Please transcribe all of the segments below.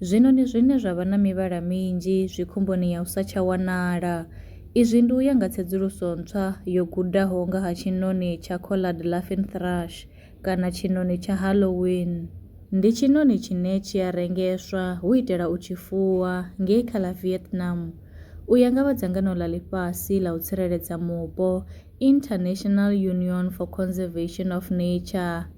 Zwino ndi zwine zwa vha na mivhala minzhi zwi khomboni ya u sa tsha wanala. Izwi ndi u ya nga tsedzuluso ntswa yo gudaho nga ha tshiṋoni tsha collared laughing thrush kana tshiṋoni tsha Halloween. Ndi tshiṋoni tshine tshi a rengeswa hu u itela u tshi fuwa ngei kha ḽa Vietnam. U ya nga vha dzangano ḽa ḽifhasi ḽa u tsireledza mupo, International Union for Conservation of Nature,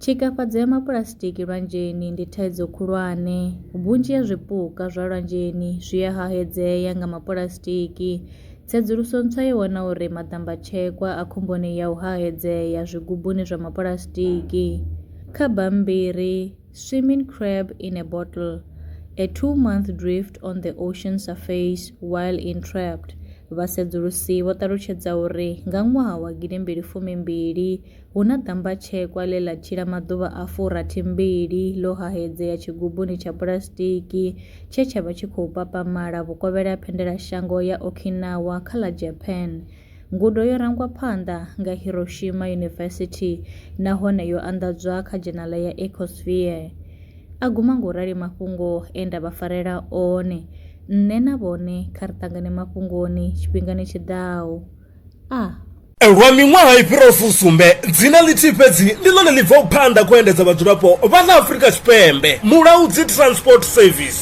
Tshikafhadzo ya mapuḽasitiki lwanzheni ndi thaidzo khulwane vhunzhi ha zwipuka zwa lwanzheni zwi a hahedzea nga mapuḽasitiki tsedzuluso ntswa yo wana uri maḓamba tshekwa a khomboni ya u hahedzea zwigubuni zwa mapuḽasitiki kha bammbiri Swimming crab in a bottle, a two-month drift on the ocean surface while entrapped, vhasedzulusi vho ṱalutshedza uri nga ṅwaha wa gidimbili fumi mbili, hu na ḓambatshekwa ḽe ḽa tshila maḓuvha a fu rathi mbili ḽo hahedzea tshigubuni tsha pulasitiki tshe tsha vha tshi khou papamala vhukovhela ha phendelashango ya Okinawa kha ḽa Japan. Ngudo yo rangwa phanḓa nga Hiroshima University nahone yo anḓadzwa kha dzhenala ya Ecosphere. A guma nga u rali mafhungo e nda vha farela one. Nṋe na vhone kha ri ṱangane mafhungoni tshifhingani tshi ḓaho. A. Lwa miṅwaha i fhiraho fusumbe, dzina ḽithihi fhedzi ndi ḽone ḽi bvaho phanḓa kha u endedza vhadzulapo vha ḽa Afrika Tshipembe, Mulaudzi Transport Service.